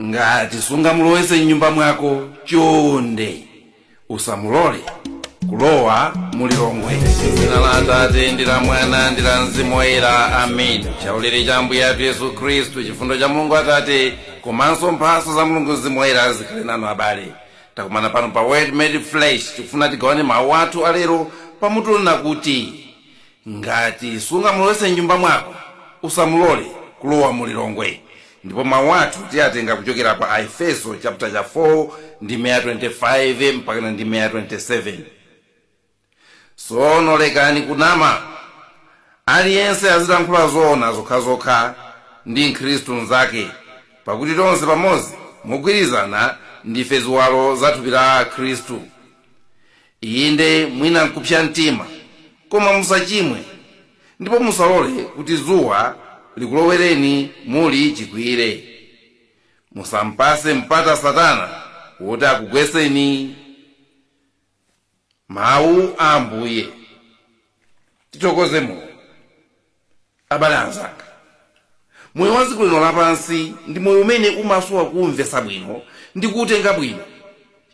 ngati sungamulowetse mnyumba mwako chonde usamulole kulowa mu lilongwe dzina la atate ndi la mwana ndi la mzimu woyera amen chaulere cha ambuye athu yesu khristu chifundo cha mulungu atate komanso mphatso za mulungu mzimu woyera zikhale nanu abale takumana pano pa word made flesh tikufuna tigawane mawu athu alero pamutu onena kuti ngati sungamulowetse m'nyumba mwako usamulole kulowa mu lilongwe ndipo mawu athu tiyatenga kuchokera pa aefeso chapter 4 ndime ya 25 mpakana ndime ya 27 tsono lekani kunama aliyense azilankhula zoona zokhazokha ndi mkhristu mnzake pakuti tonse pamodzi mogwirizana ndife ziwalo za thupi la khristu Inde, mwina n'kupsa mtima, koma musachimwe, ndipo musalole kuti dzuwa likulowereni muli chikwiyire. Musam'patse mpata Satana woti akugwetseni. Mawu a Ambuye. Tithokoze Mulungu. Abale anzanga, moyo wa dziko lino lapansi ndi moyo umene umasowa kuumvetsa bwino ndi kuutenga bwino,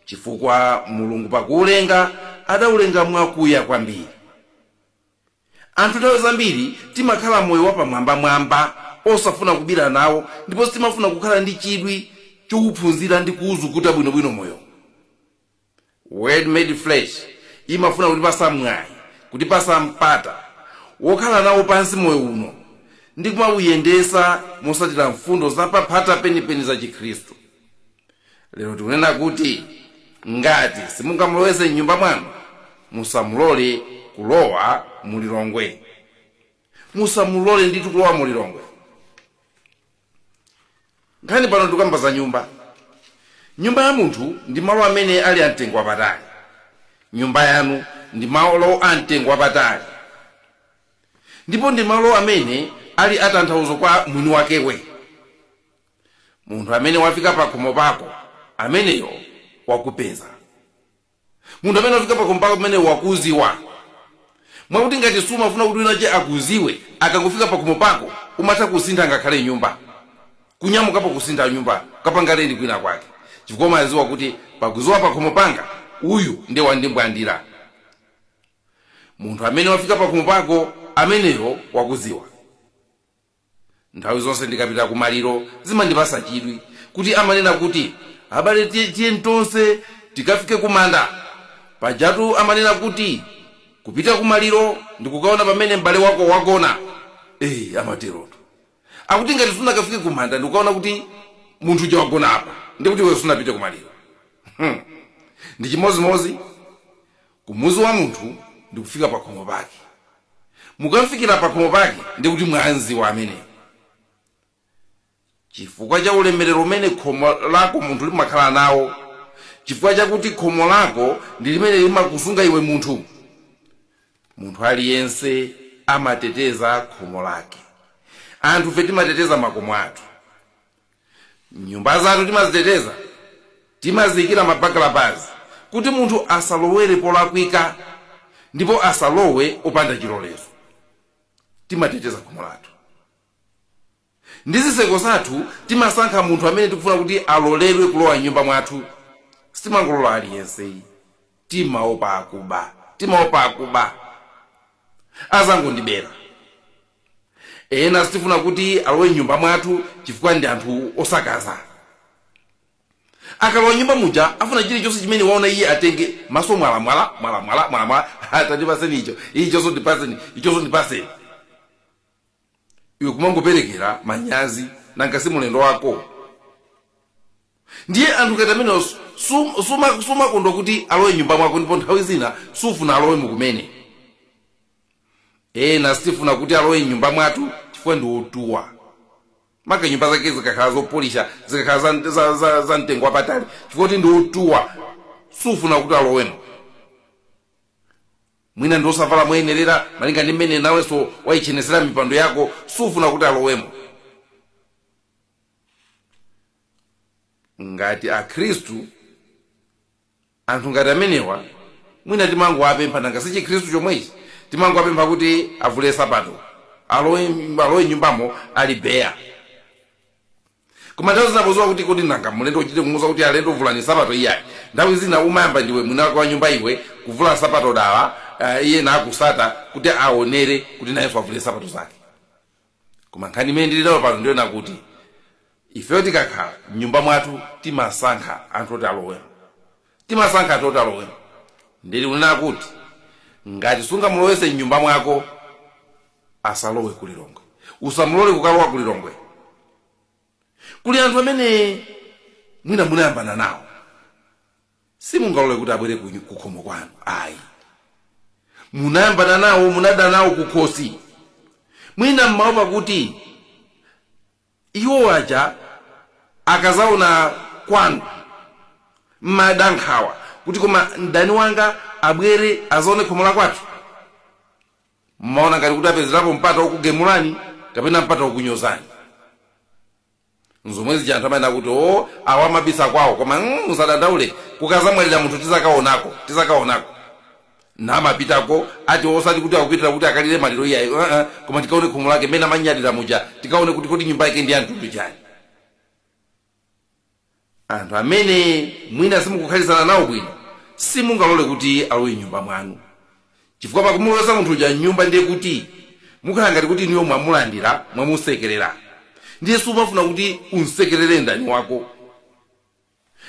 chifukwa Mulungu pakuulenga adaulenga mwakuya kwambiri. Anthu nthawi zambiri timakhala moyo wapamwambamwamba osafuna kubira nawo ndipo sitimafuna kukhala ndi chidwi chouphunzira ndi kuuzukuta bwinobwino moyowu. Word made flesh imafuna kutipasa mwayi, kutipasa mpata wokhala nawo pansi moyo uno ndi kumauyendesa mosatira mfundo za paphata penipeni za chikhristu. Lero tikunena kuti ngati simungamulowese mnyumba mwanu, musamulole kulowa mu Lilongwe. Musamulole ndithu kulowa mu Lilongwe. nkhani pano tikukamba za nyumba nyumba ya munthu ndi malo amene ali amtengo wapatali nyumba yanu ndi malo amtengo wapatali ndipo ndi malo amene ali atanthauzo kwa mwini wakewe munthu amene wafika pakhomo pako ameneyo wakupeza munthu amene wafika pakhomo pako ameneyo wakuziwa mwakuti ngati sumafuna kuti winache akuziwe akangofika pakhomo pako umatha kusintha ngakhale nyumba kunyamukapo kusintha nyumba kukapanga lendi kwina kwake chifukwa umaziwa kuti pakuziwa pakhomo panga uyu nde wandimbwandira munthu amene wafika pakhomo pako ameneyo wakuziwa nthawi zonse ndikapita ku maliro zimandipasa chidwi kuti amanena kuti abale tiye- tiyeni tonse tikafike ku manda pajatu amanena kuti kupita ku maliro ndikukaona pamene m'bale wako wagona eyi amateroto akuti ngati sunakafike ku manda ndikukaona kuti munthu uja wagonapo ndikuti iwe sunapite ku maliro Hmm. ndi chimozimozi ku muzi wa munthu ndi kufika pakhomo pake mukamfikira pakhomo pake ndi kuti mwamziwa ameneyo chifukwa cha ulemerero umene khomo lako munthu limakhala nawo chifukwa chakuti khomo lako ndi limene limakusunga iwe munthu munthu aliyense amateteza khomo lake anthufe timateteza makomo athu nyumba zathu timaziteteza timaziyikira mabagalabazi kuti munthu asalowere polakwika ndipo asalowe opanda chilolezo timateteza khomo lathu ndi zitseko zathu timasankha munthu amene tikufuna kuti aloledwe kulowa mnyumba mwathu sitimangolola aliyense timaopa akuba timaopa akuba azangondibera ena sitifuna kuti alowe mnyumba mwathu chifukwa ndi anthu osakaza akalowa mnyumba muja afuna chilichonse chimene waona iye atenge maso mwalamwala mwalamwala mwalamwala atandipaseni icho ichonso ndipaseni ichonso ndipaseni iwe kumangoperekera manyazi nanga si mulendo wako ndiye anthu ngati amenewo sum- suma- sumakondwa kuti alowe mnyumba mwako ndipo nthawi zina sufuna alowemo kumene ena sitifuna kuti alowe mnyumba mwathu chifukwa ndi otuwa maka nyumba zake zikakhala zopolisha zikakhala za, za, za, za mtengo wapatali chifukwa kuti ndi otuwa sufuna kuti alowemo mwina ndi osavala moyenerera malinga ndi mmene nawenso waichenesera mipando yako sufuna kuti alowemo ngati akhristu anthu ngati amenewa mwina timangowapempha nanga si chikhristu chomwechi timangowapempha kuti avule sapato alowe alowe mnyumbamo ali beya koma nthawi zina poziwa kuti kodi nanga mlendo uchite kumuuza kuti alendo vulani sapato iyayi nthawi zina umayamba ndiwe mwini wake wa nyumba iwe kuvula sapato dala uh, iye nakusata kuti aonere kuti nayenso avule sapato zake koma nkhani imene ndili nayo pano ndi yonena kuti ifeyo tikakhala mnyumba mwathu timasankha anthu oti alowemo timasankha anthu oti alowemo ndili kunena kuti ngati sungamulowetse mnyumba mwako asalowe ku Lilongwe usamulole kukalowa ku Lilongwe kuli anthu amene mwina munayambana nawo simungalole kuti abwere ku ku khomo kwanu ayi munayambana nawo munada nawo kukhosi mwina mmaopa kuti iwo aja akazaona kwanu mmada nkhawa kuti koma mdani wanga abwere azaone khomo la kwathu mmaona ngati kuti apezerapo mpata wokugemulani kapena mpata wokunyozani nzomwe zija anthu amanena kuti o awa amabisa kwawo koma mm, musadandaule kukazamwalira munthu tizakaonako tizakaonako namapitako ati osati kuti akupitira kuti akalire maliro iyayi uh -uh. koma tikaone khomo lake mmene amanyadira muja tikaone kuti kodi nyumba yake ndi ya mtundu wanji anthu amene mwina simukukhalitsana nawo bwino simungalole kuti alowe mnyumba mwanu chifukwa pakumulowetsa munthu uja mnyumba ndiye kuti mukhala ngati kuti inuyo mwamulandira mwamusekerera ndiye sumafuna kuti umsekerere mdani wako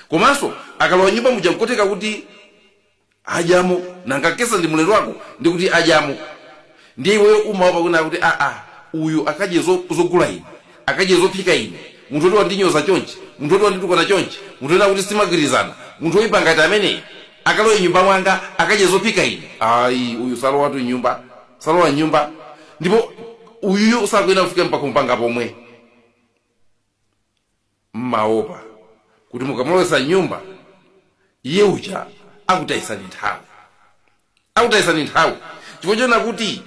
komanso akalowa mnyumba muja nkoteka kuti adyamo nanga si ndi mulendo wako ndikuti adyamo ndiye iweyo umaopa kunena kuti aa uyu akadye zo- zogula ine akadye zophika ine munthu oti wandinyoza chonchi munthu oti wanditukwana chonchi munthu oti sitimagwirizana munthu oyipa ngati ameneyi akalowe mnyumba mwanga akadye zophika ine ayi uyu salowatu mnyumba salowa mnyumba ndipo uyuyu sakuyenera kufika mpaka mpanga pomwe mmaopa kuti mukamulowetsa mnyumba iye uja akutayisani nthawi akutayisani nthawi chifukwa chonena kuti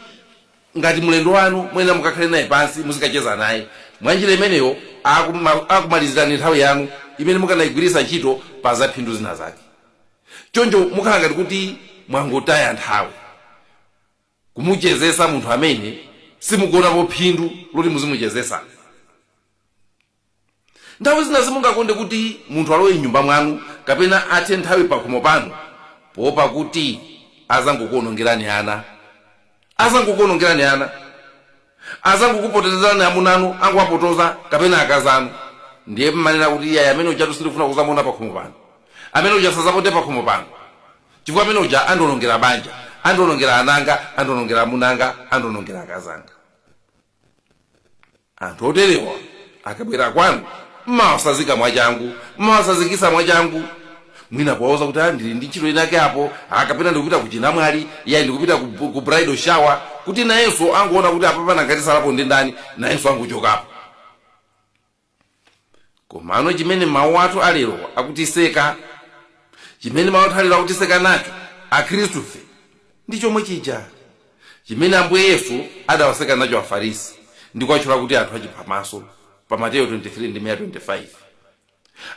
ngati mlendo wanu muyenera mukakhale naye pansi muzikacheza naye mwanjira imeneyo akuma- akumalizirani nthawi yanu imene mukanayigwiritsa ntchito pa zaphindu zina zake choncho mukhala ngati kuti mwangotaya nthawi kumuchezesa munthu amene simukuonapo phindu loti muzimuchezesa nthawi zina simungakonde kuti munthu alowe m'nyumba mwanu kapena athe nthawi pakhomo panu poopa kuti azangokuonongerani ana azangokuonongerani ana azangokupotezerani amunanu angowapotoza kapena akazanu ndiye mmanena kuti iyayi amene uja sindikufuna kuzamuona pakhomo pano amene uja sazapote pakhomo pano chifukwa amene uja andionongera banja andionongera ananga andionongera amunanga andionongera akazanga anthu oterewa akabwera kwanu mmawasazika mwachangu mmawasazikisa mwachangu mwina kuwauza kuti "Ah, ndili ndi ntchito inake apo kapena ndikupita ku chinamwali yayi ndikupita ku, ku bridal shower kuti nayenso angoona kuti apapa nanga atsalapo ndi ndani nayenso angochokapo komano chimene mawu athu alero akutiseka chimene mawu athu alero akutiseka nacho akhristufe ndi chomwe chija chimene ambuye yesu adawaseka nacho afarisi ndi kuwatchula kuti anthu achiphamaso pa mateyo 23 ndime ya 25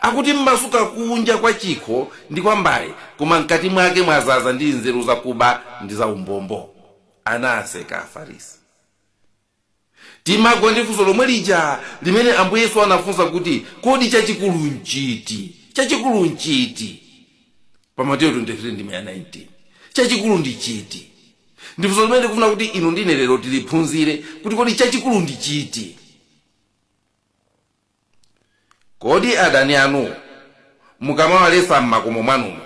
akuti mmasuka kunja kwa chikho ndi kwa mbale koma mkati mwake mwazaza ndi nzeru zakuba ndi zaumbombo anawaseka afarisi Timagwa ndi funso lomwe lija limene Ambuye Yesu anafunsa kuti, Kodi chachikulu n'chiti? Chachikulu n'chiti? Pa Mateyo 23 ndime ya 19. Chachikulu ndi chiti? Ndi funso limene ndikufuna kuti inu ndine lero tiliphunzire kuti kodi chachikulu ndi chiti? Kodi adani anu mukamawaletsa m'makomo mwanumo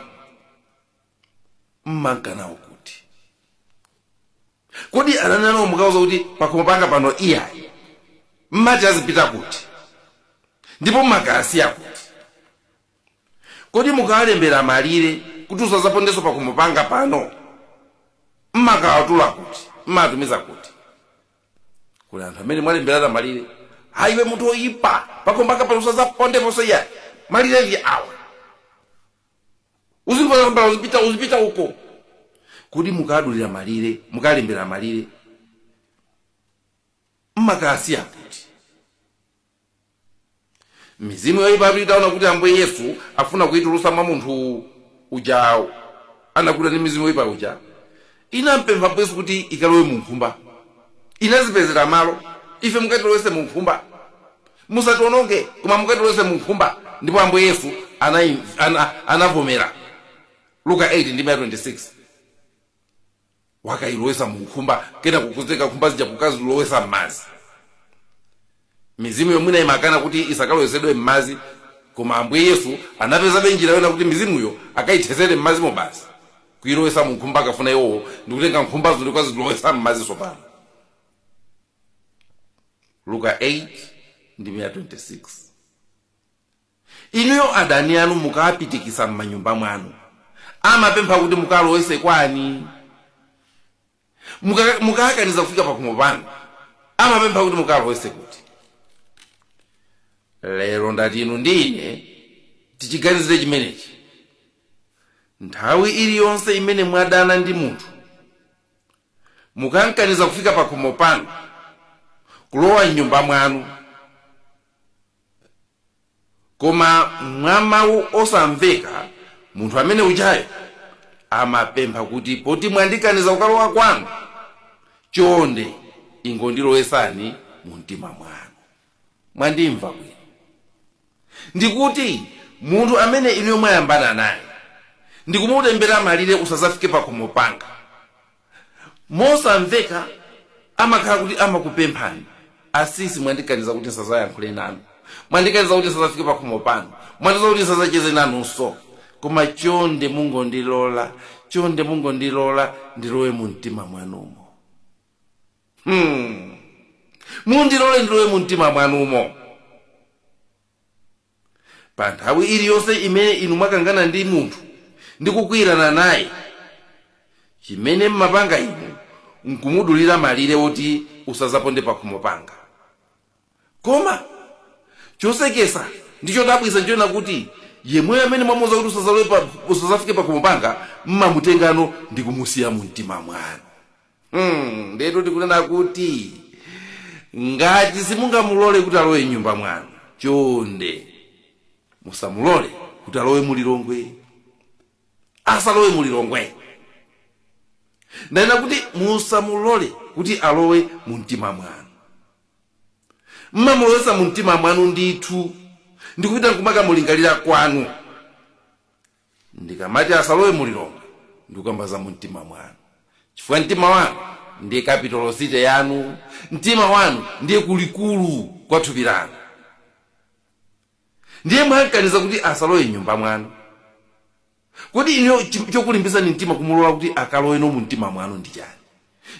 mmanka nawo kuti? kodi adani anu mukauza kuti pakhomo panga pano iyayi mmati azipita kuti ndipo mmakawasiya kuti kodi mukawalembera malire kuti usazapondenso pakhomo panga pano mmakawatula kuti mmatumiza kuti kuli anthu amene mwalemberana malire ayiwe munthu oyipa pakhomo panga pano usazapondeponso iyayi malire ndi awa uzipita uzipita uzipita uko kodi mukadulira malire mukalembera malire mmakawasiya kuti mizimu yoyipa itaona kuti ambuye yesu afuna kuitulusa mwa munthu ujawo anakutidwa ndi mizimu yoyipa uja Inampempha Ambuye Yesu kuti ikalowe mu nkhumba. Inazipezera malo. Ife mukatilowetse mu nkhumba. Musatiwononge, koma mukatilowetse mu nkhumba. Ndipo Ambuye Yesu anai, ana, anavomera. Luka 8 ndime ya 26. Wakayilowetsa mu nkhumba, kenaka kukusa nkhumba zija kukazilowetsa m'madzi. mizimuyo mwina imakana kuti isakalowesedwe m'madzi koma ambuye yesu anapezabe njira yona kuti mizimuyo akayithesere m'madzimo basi kuyilowesa mu nkhumba akafuna iwowo ndikutenga nkhumbazo ndikukazilowesa m'madzi tsopano luka 8 ndime 26 inuyo adani anu mukawapitikisa m'manyumba mwanu amapempha kuti mukawalowese kwani Muka- mukawakaniza kufika pakhomo panu amapempha kuti mukawalowetse kuti lero ndati inu ndi ine tichiganizire chimenechi nthawi iliyonse imene mwadana ndi munthu mukankaniza kufika pakhomo panu kulowa mnyumba mwanu koma mwa mawu osamveka munthu amene ujayo amapempha kuti poti mwandikaniza kukalowa kwanu chonde ingondilowetsani mu mtima mwanu mwandimva bwino ndikuti munthu amene inuyo mwayambana naye ndikumutembera malire usazafike pakhomo panga mosamveka amakhala kuti amakupemphani asisi mwandikaniza kuti nsazayankhule nanu mwandikaniza kuti nsazafike pakhomo panu mwandikaniza kuti nsazacheze nanunso koma chonde mungondilola chonde mungondilola ndilowe mu mtima mwanumo hmm. mundilole ndilowe mu mtima mwanumo pa nthawi iliyonse imene inu mwakangana ndi munthu ndi kukwiyirana naye chimene mmapanga inu nkumudulira malire woti usazaponde pakhomo panga koma chosekesa ndi chodabwisa nchoona kuti yemweyo amene mwamuuza kuti usazalowe pa- usazafike pakhomo panga mmamutengano ndi kumusiya mu mtima mwanu Hmm, ndetu tikunena kuti ngati simungamulole kuti alowe mnyumba mwanu chonde musamulole kuti alowe mulilongwe asalowe mulilongwe ndanena kuti musamulole kuti alowe mu mtima mwanu mmamulowesa mu mtima mwanu ndithu ndikupita nkumakamulingalira kwanu ndikamati asalowe mu lilongwe ndikukamba za mumtima mwanu chifukwa mtima wanu ndiye capital city yanu mtima wanu ndiye kulikulu kwa thupi lanu ndiye mwankaniza kuti asalowe mnyumba mwanu kodi ino chokulimbisani mtima kumulola kuti akaloweno mumtima mwanu ndi chani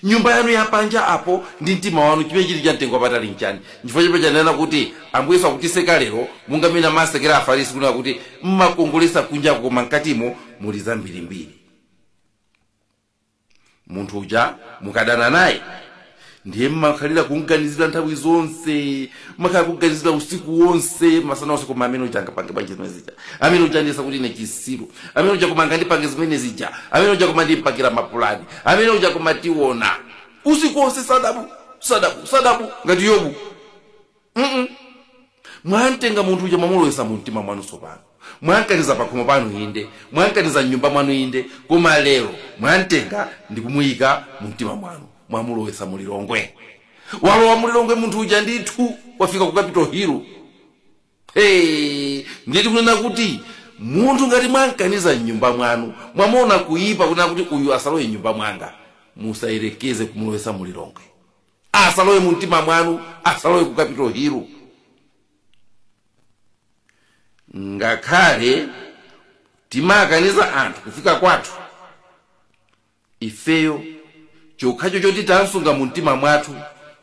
Nyumba yanu ya panja apo, ndi mtima wanu, chimene chiri cha mtengo wapatali nchani? Nchifukwa chimene chanena kuti, Ambuye Yesu akutiseka lero, monga mmene amasekera Afarisi kunena kuti, Mmakongoletsa kunjaku koma mkatimo muli zambirimbiri. Munthu uja mukadana naye, ndiye mmakhalira kumganizira nthawi zonse, mmakhala kuganizira usiku wonse masana onse koma amene uja angapange bwanji zimene zija amene uja andiyesa kuti ine chisiru amene uja koma angandipange zimene zija amene uja koma ndimpakira mapulani amene uja koma tiona usiku wonse sadabu ngati yobu Mm-mm. mwantenga munthu uja mwamulowesa mu mtima mwanu tsopano mwankaniza pakhomo panu inde mwankaniza mnyumba mwanu inde koma lero mwantenga ndikumuyika mu mtima mwanu mwamulowesa mulilongwe walowa mu Lilongwe munthu uja ndithu wafika ku capital hill hey, ndiye tikunena kuti munthu ngati mwankaniza mnyumba mwanu mwamuona kuyipa kunena kuti uyu asalowe mnyumba mwanga musayerekeze kumulowesa mu Lilongwe asalowe mu mtima mwanu asalowe ku capital hill ngakhale timakaniza anthu kufika kwathu ifeyo. Chokhacho choti tamsunga mu mtima mwathu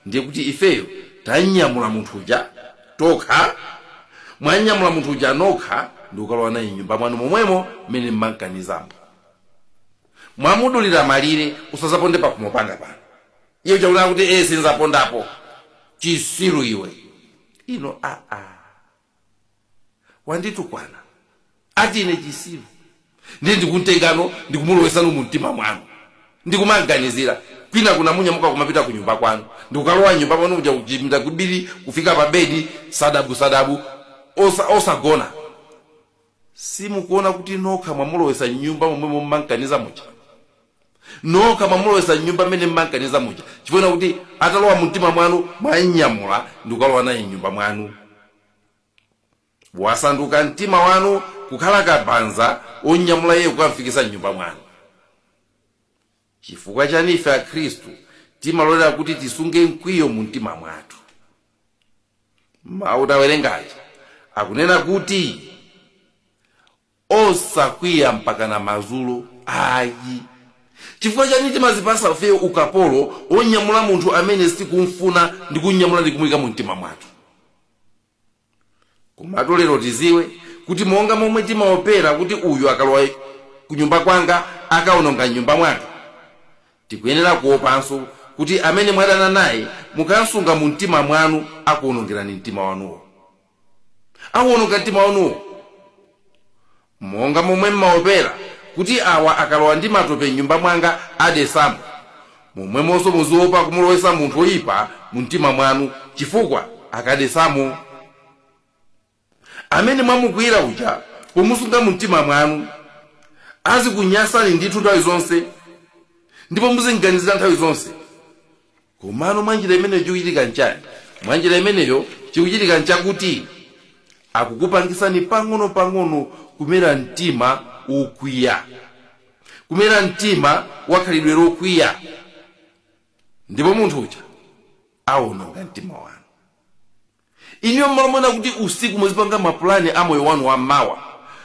ndiye kuti ifeyo tamnyamula munthu uja tokha. Mwamnyamula munthu uja nokha ndi kukalowa naye m'nyumba mwanu momwemo mmene m'mamkanizamo. Mwamudulira malire. Usazaponde pakhomo panga pano. Iye uja akunena kuti, Ee sinzapondapo. Chisiru iwe. Inu aa! wanditukwana ati ine chisiru ndiye ndikuntengano ndikumulowesano mu mtima mwanu ndikumamganizira kwina kunamunyamuka kumapita ku nyumba kwanu ndikukalowa mnyumba pano kuja kuchipinda kubiri kufika pa bedi sadabu sadabu osa- osagona simukuona kuti nokha mwamulowesa mnyumba momwe mummankaniza muja nokha mwamulowesa mnyumba mmene mmankaniza muja chifukwa kuti atalowa mumtima mwanu mwamnyamula ndikukalowa naye mnyumba mwanu wasanduka mtima wanu kukhala kabanza onyamula iye kukamfikisa mnyumba mwanu Chifukwa chani ife akhristu timalolera kuti tisunge mkwiyo mu mtima mwathu? Mawu tawerenga aja akunena kuti osakwiya mpakana madzulo ayi. Chifukwa chani timazipasa ifeyo ukapolo wonyamula munthu amene sitikumfuna ndi kumnyamula ndi kumuika mu mtima mwathu? komatu lero tiziwe kuti monga momwe timaopera kuti uyu akalowa kunyumba kwanga akaononga mnyumba mwanga tikuyenera kuopanso kuti amene mwadana naye mukansunga mu mtima mwanu akuonongerani mtima wanuwo akuononga mtima wanuwo Monga momwe m'maopera kuti awa akalowa ndi matope m'nyumba mwanga adesamo, momwemonso muziopa kumulowesa munthu woipa mumtima mwanu, chifukwa akadesamo. Amene mwamukwiyira uja, pomusunga mumtima mwanu, azikunyansani ndithu nthawi zonse, ndipo muzim'ganizira nthawi zonse. Komano mwa njira imeneyo chikuchitika nchani? Mwa njira imeneyo chikuchitika nchakuti akukupangisani pang'ono pang'ono kumera mtima wokwiya, kumera mtima wa khalidwe lokwiya, ndipo munthu uja awononga mtima wanu. Inuyo m'malo moona kuti usiku muzipanga mapulani a moyo wanu wammawa,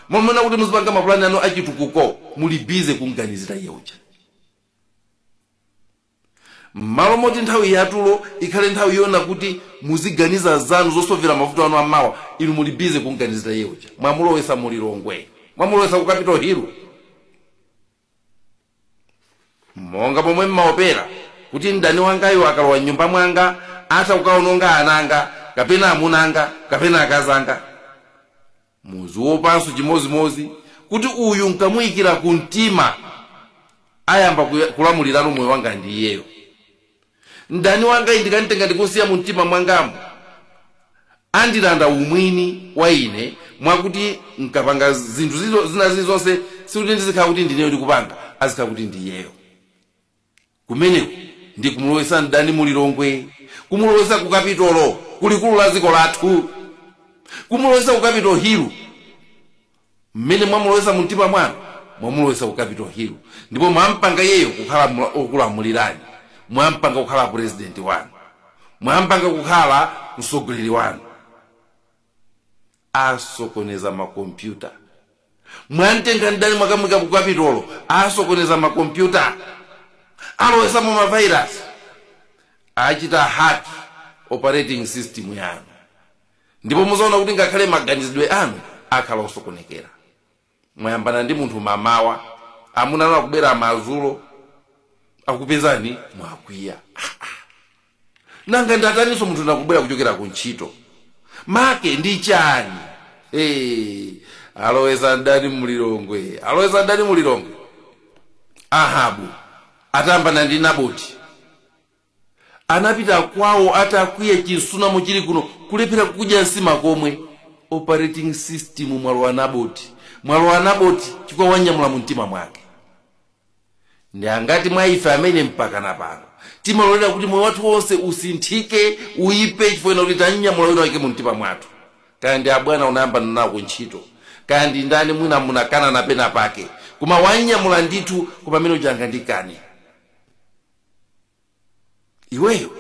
m'malo moona kuti muzipanga mapulani anu a chitukuko, muli bize kumganizira iye uja. M'malo moti nthawi yatulo ikhale nthawi yoona kuti muziganiza zanu zosovera mavuto anu ammawa, inu muli bize kumganizira iye uja mwamulowesa mu Lilongwe, mwamulowesa ku Capital Hill. Monga momwe m'maopera kuti mdani wangayo akalowa m'nyumba mwanga atha kukaononga ana anga, kapena amuna anga, kapena akazi anga. muziopanso chimozimozi kuti uyu nkamuyikira ku mtima ayamba kuya- kulamulira moyo wanga ndi iyeyo mdani wangayi ndikamutenga ndikumsiya mu mtima mwangamu andilanda umwini wa ine mwakuti nkapanga zinthu zizo- zina zilizonse sikuti ndizikhala kuti ndineyo ndikupanga azikhala kuti ndiyeyo kumeneko ndi kumulowetsa mdani mu lilongwe kumulowetsa ku kapitolo ku likulu la dziko lathu kumulowetsa ku kapitolo hilu mmene mwamulowetsa mu mtima mwanu mwamulowetsa ku kapitolo hilu ndipo mwampanga iyeyo kukhala mla- okulamulirani mwampanga kukhala purezidenti wanu mwampanga kukhala mtsogoleri wanu asokoneza makompyuta mwamtenga mdani mwakamuika ku kapitolo asokoneza makompyuta alowesamo mavairasi achita hack operating system yanu ndipo muzaona kuti ngakhale maganizidwe anu akhala osokonekera mwayambana ndi munthu mamawa amuna anu akubwera madzulo akupezani mwakwiya nanga ndataninso munthu nakubwera kuchokera ku ntchito make ndi chani hey, alowesa mdani mu lilongwe alowesa mdani mu lilongwe ahabu atayambana ndi naboti anapita kwawo atakwiya chimsunamo chili kuno kulephera kudya nsima komwe operating system mwalowa naboti mwalowa naboti chifukwa wanyamula mu mtima mwake ndi angati mwa ife amene mpaka pano timalolera kuti moyo wathu wonse usinthike uyipe chifukwa kuti tanyamula wina wake mu mtima mwathu kaya ndi abwana unayambana nawo ku ntchito kaya ndi ndani mwina munakangana pena pake koma wanyamula ndithu koma amene uchanga ndikani iweyo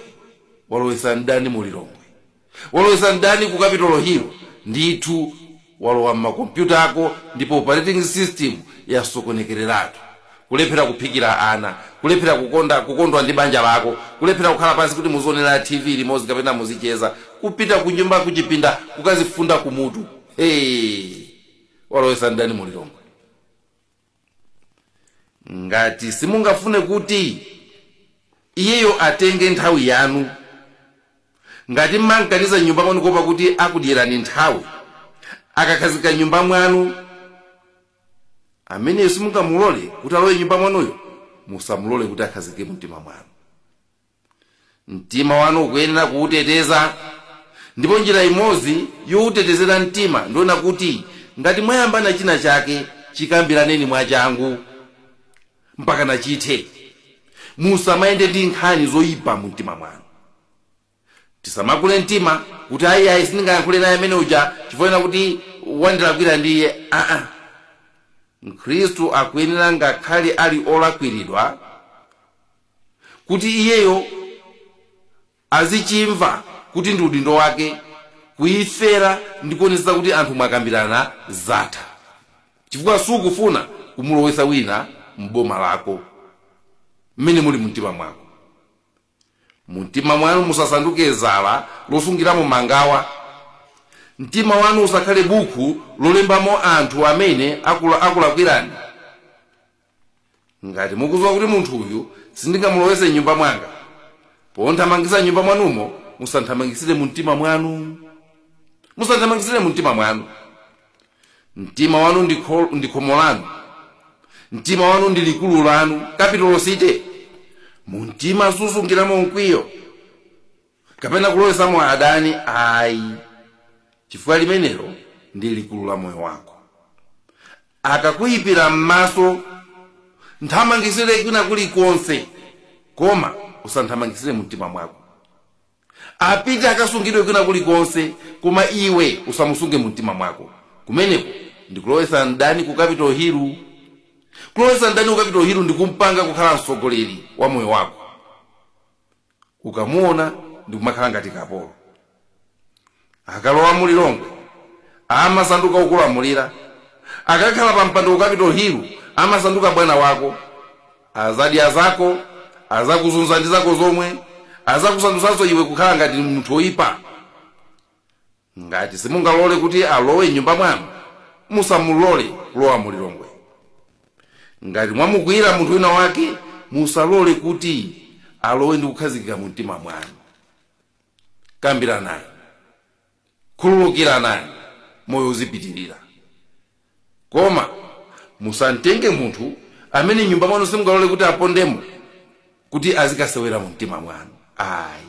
walowesa mdani mu lilongwe walowesa mdani ku capital hill ndithu walowa m'makompyuta ako ndipo operating system yasokonekereratu kulephera kuphikira ana kulephera kukonda kukondwa ndi banja lako kulephera kukhala pansi kuti muzionera tv limodzi kapena muzicheza kupita ku nyumba kuchipinda kukazifunda ku mutu hey. walowesa mdani mu lilongwe ngati simungafune kuti iyeyo atenge nthawi yanu ngati mmamkaniza m'nyumba mwanu kuopa kuti akudyerani nthawi akakhazikika m'nyumba mwanu ameneyo simungamulole kuti alowe m'nyumba mwanuyo musamulole kuti akhazikike mumtima mwanu mtima wanu ukuyenera kuwuteteza ndipo njira imodzi yowutetezera mtima ndi kuona kuti ngati mwayambana china chake chikambiraneni mwachangu mpaka nachithe musamayende ndi nkhani zoyipa mu mtima mwanu tisamakule mtima kuti ayi ayi sindingayankhule naye amene uja chifukwa kuti wandilakwira ndiye aa mkhristu akuyenera ngakhale ali olakwiridwa kuti iyeyo azichimva kuti ndi udindo wake kuyifera ndi kuonetsa kuti anthu mwakambirana zatha chifukwa sukufuna kumulowetsa wina m'boma lako mmene muli mumtima mwako mumtima mwanu musasanduke dzala losungiramo mangawa mtima wanu usakhale buku lolembamo anthu amene akulakwirani ngati mukudziwa kuti munthu uyu sindingamulowetse m'nyumba mwanga pomthamangitsa m'nyumba mwanumo musamthamangitsire mu mtima mwanu musamthamangitsire mu mtima mwanu mtima wanu ndi khomo lanu mtima wanu ndi likulu lanu capital city mu mtima susungiramo mkwiyo kapena kulowetsamo adani ayi chifukwa limenelo ndi likulu la moyo wako akakuyipira m'maso mthamangitsire kwina kulikonse koma usamthamangitsire mu mtima mwako apite akasungidwe kwina kulikonse koma iwe usamusunge mu mtima mwako kumeneko ndikulowetsa mdani ku capital hill kulowetsa mdani ku capital hill ndikumpanga kukhala mtsogoleri wa moyo wako ukamuona ndi kumakhala ngati kapolo akalowa mu lilongwe amasanduka okulamulira akakhala pa mpando ku capital hill amasanduka bwana wako azadya zako azakuzunza ndi zako zomwe azakusandutsanso iwe kukhala ngati munthu oyipa ngati simungalole kuti alowe m'nyumba mwanu musamulole kulowa mu lilongwe ngati mwamukwiyira munthu wina wake musalole kuti alowe ndi kukhazikika mu mtima mwanu kambiranani khululukiranani moyo uzipitirira koma musamtenge munthu amene m'nyumba mwanu simungalole kuti apondemo kuti azikasewera mu mtima mwanu ayi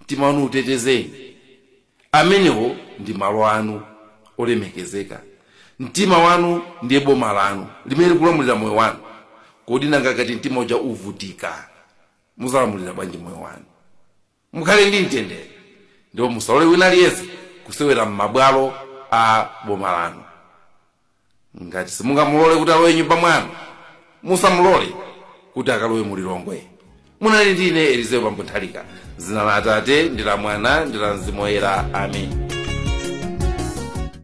mtima wanu utetezeni amenewo ndi malo anu olemekezeka mtima wanu ndiye boma lanu limene likulamulira moyo wanu kodi nanga ngati mtima uja uvutika muzalamulira bwanji moyo wanu mukhale ndi mtendere ndipo musalole wina aliyense kusewera m'mabwalo a boma lanu ngati simungamulole kuti alowe nyumba mwanu musamulole kuti akalowe mu lilongwe munali ndine elizeo bambo nthalika dzina la atate ndi la mwana ndi la mzimu woyera amen